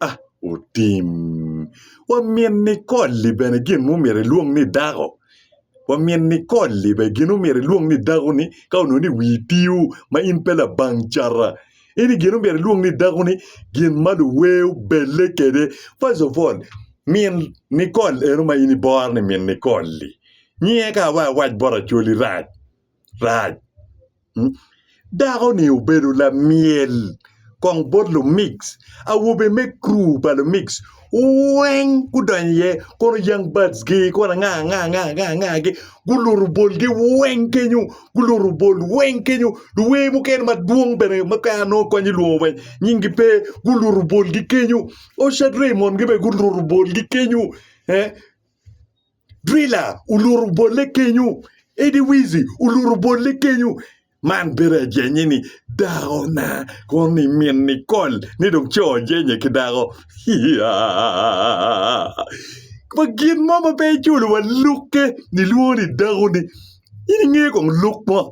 a otim. Wa min Nicole-li bene gin ma omyero elwong ni dako. Wa min Nicole-li bene gin ma omyero elwong ni dako ni ka onongo ni wii tio ma in pe labang cata. Ini gin ma omyero ilwong ni dako ni gin ma luwer obelle kede. First of all, min Nicole eno ma in ibore ni min Nicole-li nyinge ka awac awac bot Acholi rac. rac. Dakoni obedo lamyel kong bot lumic, awobe me kru pa lumic weng gudonyo iye kono young birds gi kono anga anga anga anga gi guluto bolgi weng kenyo guluto bol weng kenyo luwer mukene madwong bene ma peya anongo kony ilwongo wa nyingi pe guluto bolgi kenyo, Osha Dreymond gi bene guluto bolgi kenyo. Drila oluto bolle kenyo, Eddie Wizi oluto bolle kenyo. Man bedo ajenye ni dako na kono ni min Nicole ni dong co jenye ki dako. Hiya! Ma gin mo ma pe iculo wa lukke nilwongo ni dako ni in inge kong luk mo.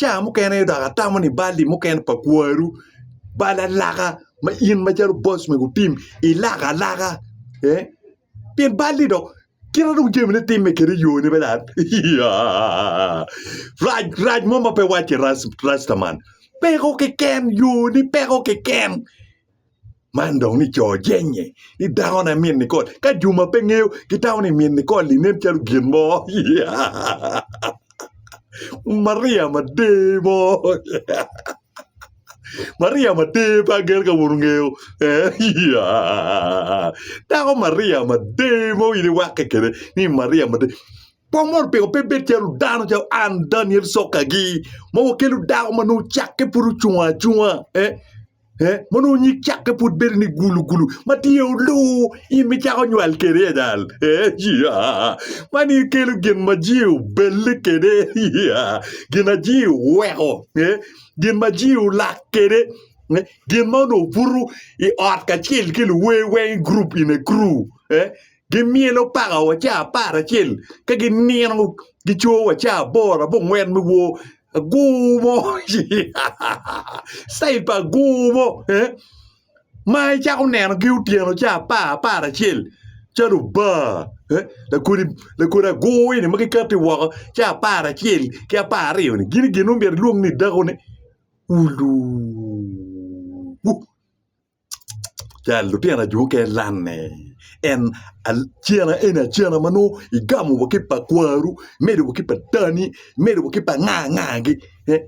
Caa mukene aye dok atamo ni balli mukene pa kwaru bal alaka ma in macalo boss mego tim ilak alaka eeh pien balli dok kite dong jamine timme kede yone bene dok iyaa rac rac mo ma pe wacce rac rac rastaman peko keken yoni peko keken Man dong ni co jenge ni dako ne min Nicole ka juma pe ngeyo gitamo ni min Nicole ni nen calo gin mo Maria mader mo Maria mader pe ager ka wun wungeyo dako Maria mader mo in iwakke kede ni Maria mader po mono pingo pe bed calo dano calo an Daniel Sokagi ma wakelo dako ma nongo cakke pud ocung acunga. Eh, mono nyig cakke pud bedo ni gulugulu ma tye olu in micako nywal kede ya dal eh, ya man in kelo gin ma ji obelle kede ya gin ma ji oweko eh, gin ma ji olak kede eh, gin ma onongo buto i ot kacel ki luwer weng grup in a crew eh, gimyelo pakawa ca apar acel ka ginino gicoyo wa ca aboro abongwen me wor agur mo citayil pa agur mo ma icako nenogi otyeno ca apar apar acel calo bar lakodi agur eni ma gikati woko ca apar acel ki apar aryoni gin gin ma myero ilwongi ni dakone oluu. Cal, Lutino ajo oke lanne en acena eni acena ma nongo igamo wa ki pa kwaru imedo wa ki pa dani imedo wa ki pa nga nga gi eh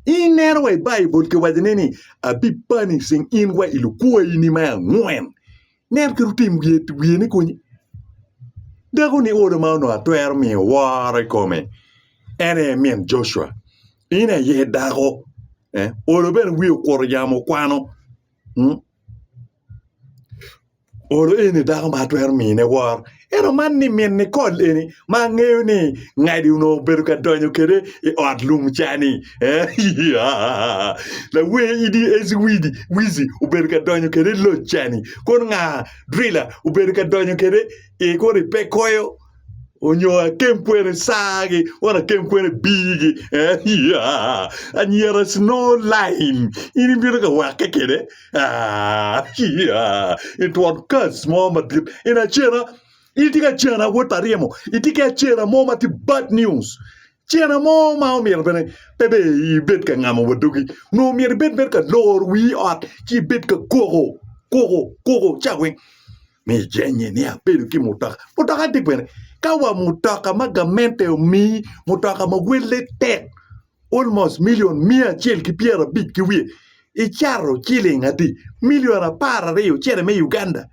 ineno wa i baibul kiwaco ne ni abipanicing in wa i lukwayi ni me angwen nen kit otim wiye wiye ni kony dako ni olo ma onongo atwero miyo woro ikome en aye min Joshua In aye dako. Eh, Olo bene wiye okuto yamo kwano. Mm. Olo eni dako ma atwero mine wor. Eno man ni min ni kol eni ma angeyo ni ngadi onongo obedo ka donyo kede i ot lum cani. Eh, ya. Lawe idi ezi widi wizi obedo ka donyo kede i loc cani. Kono nga drila obedo ka donyo kede i kono i pe koyo. onyo akem kwene saagi or akem kwene biigi anyira snow line in ibino ka wake kwede itwon kas mo madit in acena in itye ka cena wod pa ryemo itye ki acena mo ma tye bad news cena mo ma omyero bene pe dong ibed ka ngamo wa dogi nongo myero ibed mere ka loro wii ot ci ibed ka koko koko koko ca weng me jenge ni abedo ki mutoka mutoka tye kwene ka wa mutoka ma gamente omii mutoka ma welle tek almost million miya acel ki pyera abic ki wiye icato ciling adi million apar aryo cene me Uganda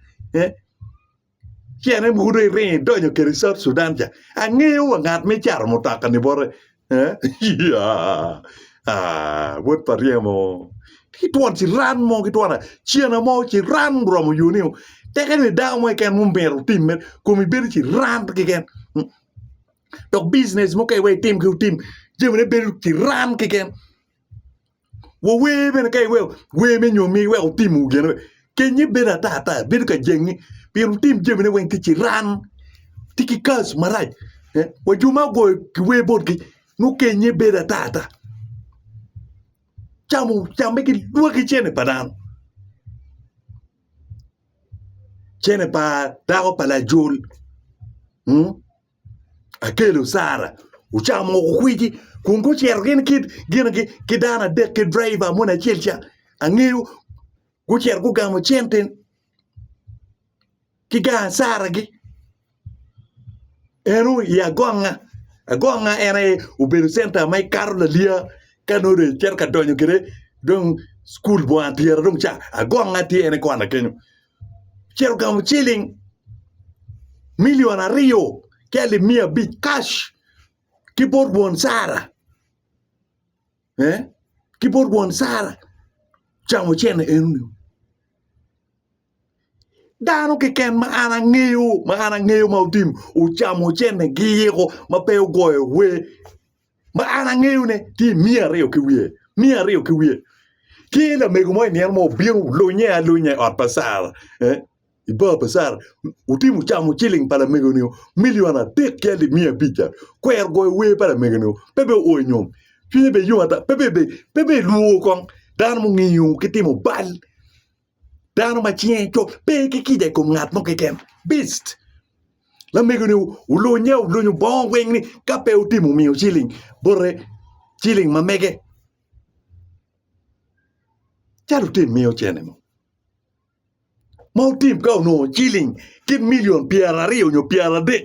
cene mogo dong iringo idonyo kede South Sudan ca angeyo wa ngat ma icato mutoka-ni bote Wod pa ryemo ki twon ciran mo ki twon cene mo ciran oromo yo nio teke dong idako mo keken ma omyero otim mere komi bedo ciran keken dok bijinec mo ka iwee itim jami ne bedo ciran keken. Wuwer bene ka iweko wer me nyomi iweko tim wu gene kenye bedo ata ata bedo ka jengi pien wutim jamine weng ki ciran tye ki kas marac wa jo ma ogoyo ki wer botgi nongo kenye bedo ata ata camo camme ki lwaki cene pa dano cene pa dako pa lajol. Akelo Sara ocamo woko kwiji kun gucito gin ki dano adek ki driver moni acel ca angeyo gucito gugamo cente ki gang Sara gi en o i agonga, agonga en aye obedo centa ma ikato laliya ka nongo dong icito ka donyo kwede dong cukul bwanga tyera dong ca agonga tye en kona kenyo. ocito ogamo ciling milion aryo ki alip miya abic cash ki bot won Sara ki bot won Sara ocamo cene enoni dano keken ma an angeyo ma an angeyo ma ocamo cenegi ma pe ogoyo wer ma an angeyone tye i miya aryo ki wiye miya aryo ki wiye ki lamego mo i nino mo obino lunye alunya i ot pa Sara eh, i bar pa Sara otimo camo ciling pa lamego-ni milion adek ki alip miya abic ca kwero goyo wer pa lamego-ni pe be oo nyom cwinye be yom ata pe be pe be lwor kong dano mungiyo ki timo bal Dano ma cinge cok pe ki kica i kom ngat mo keken. Beast. Lamego ni olunya olunyo bongo weng ni ka pe otimo omiyo ciling bote ciling ma mege. Calo otim miyo cene mo. Ma otim ka onongo ciling kit million pyera aryo nyo pyera adek.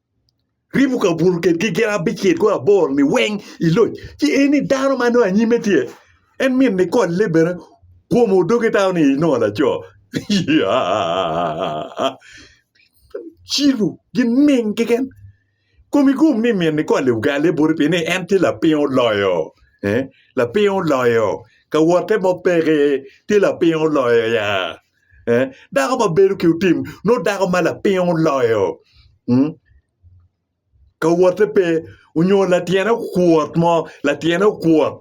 Ribuka obuto kedgi gin abicel ki abor-ni weng i loc, ci en ni dano ma nongo anyimme tye, en mit nikolle bene, kome odoge tau ni nongo laco. Cilo gining keken? Komi gum ni min nikolle ogale boti pi ni en tye lapiny oloyo, lapiny oloyo, ka wotte mo peke, tye lapiny oloyo ya. Dako ma bedo ki otim nongo dako ma lapiny oloyo ka wotte pe onyo latyene okuot mo latyene okuot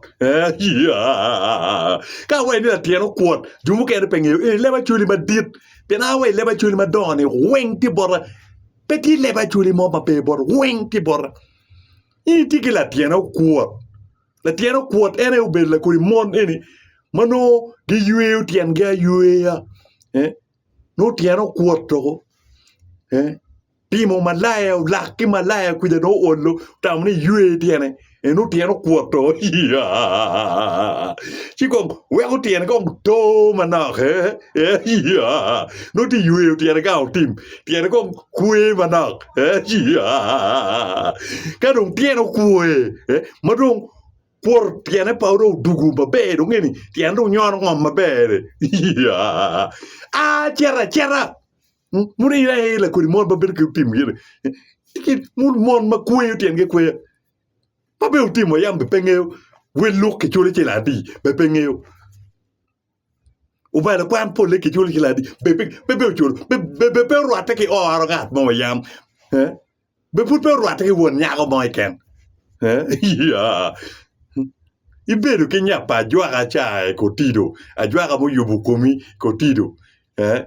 ka awaci ni latyene okuot jo mukene pe ngeyo ee leb acwali madit pien a wa ileb acwali madongo ni weng tye bota pe tye leb acwali mo ma pe bota weng tye bota in itye ki latyene okuot. Latyen okuot en aye obedo lakodi mon eni ma nongo giyweyo tyengi ayweya eh, nongo tyene okuot doko eh, timo malaya olak ki malaya kuja nongo olo otamo ni ywe tyene eh, nongo tyene okuot doko iya ci kong weko tyene kong to manok eh, eh, iya nongo tye yweyo tyene gang otim tyene kong kwe manok ka dong tyene okwe ma dong kwor tyene pa dong odugo maber dong ngeni tyene dong nyono ngom maber acito acita mono ilo aye ilo kodi mon ma bedo ki otim gene mon ma kweyo tyengi kweyo ma bene otimo yam bene pe ngeyo wel luk kicwalo ci ladi bene pe ngeyo. Obalo kwan polle kiculo ci ladi be pe be pe oculo be be be pe orwatte ki oro ngat mo yam eh? be pud pe orwatte ki won nyako mo iken eh? ya ibedo ki nya pa ajwaka ca eh, kotido ajwaka muyubo komi kotido eh?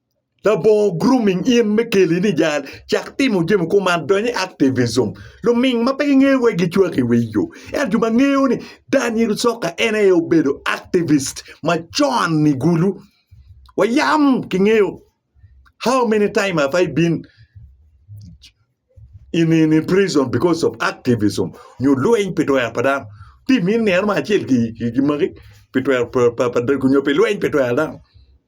Labongo grooming in me keli ni jal, cak timo jami kuman, dony i activism. Luming ma pe gingeyo wek gicwak i wi yo. Ento jo ma ngeyo ni Daniel Soka en aye obedo activist macon i Gulu. Wayam kingeyo how many time have I been in, in, in prison because of activism nyo lweny pi twero pa dano. Tim in nino ma acel ki, ki, ki magi pi twero pa, pa, pa, nyo pi lweny pi twero dano.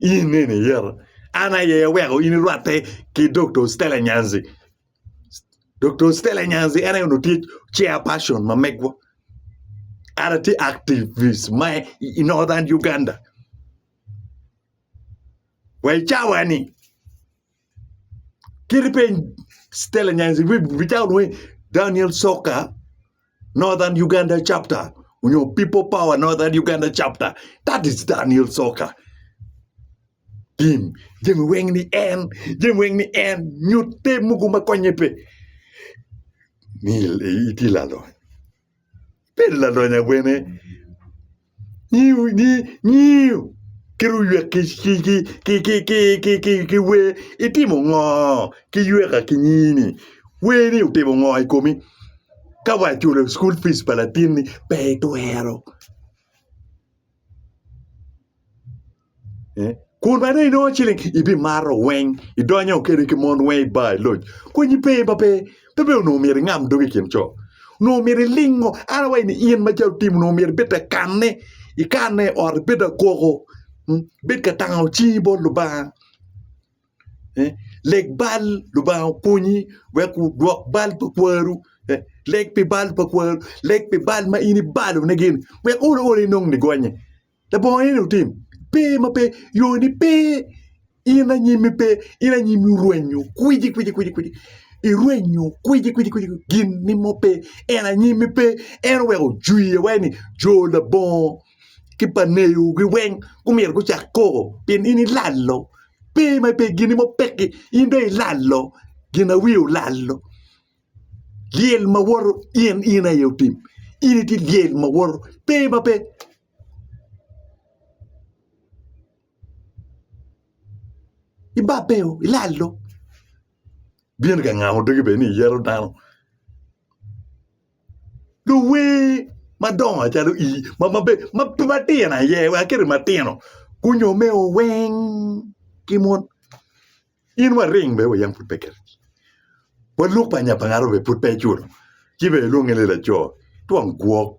In nene iyero. An aye aweko in irwatte ki Doktor Stella Nyanzi. Doktor Stella Nyanzi en aye onongo tye chairperson ma megwa. An atye activist ma i Northern Uganda. Wa i cawa-ni. Kit ipeny Stella Nyanzi bicato dong ni Daniel Soka Northern Uganda chapter nyo People Power Northern Uganda chapter that is Daniel Soka tim jami weng ni en jami weng ni en nyutte mogo ma konye pe ni itye laloc. Bedo lalonya wene nyiyo kit oywek ki wer. Itimo ngo ki yweka ki nyini? Wer ni otimo ngo i komi? Ka wa iculo cukul pic pa latinni pe itwero. Kun bene inongo ciling ibimato weng, idonyo kede ki mon weng i bar iloc. Konyi pe ma pe, pe pe onongo myero ingam dogi i kin co. Onongo myero ilingo, an awaco ni in ma ca otim onongo myero ibed ka kanne, ikanne i ot ibed ka koko, ibed ka tango cingi bot Lubanga. Leg bal Lubanga okonyi wek wudwok bal pa kwaru, leg pi bal pa kwaru, leg pi bal ma in ibalonegi-ni wek olo olo inong nigonye. labongo nini wutim? Pe ma pe yoni pe in anyimi pe in anyimi orwenyo kwici kwici kwici kwici irwenyo kwici kwici kwici gin ni mo pe en anyimi pe en oweko ojwiye wai ni jo labongo ki pa neyo gi weng gumyero gucak koko pien in ilalo pe ma pe gin ni mo peki in dong ilalo ginawiye olalo. Lyel ma woto in in aye otim in itye lyel ma woto pe ma pe ibabeo ilalo bino ka ngamo dogi bene ni iyeto dano luwer madongo calo in matino aye wa kit matino gunyo me oweng ki mon. In waring be wa yam pud pe kergi. Waluk pa nya pa ngaro be pud pe iculo. Ci be ilwonge ni laco twong gwok.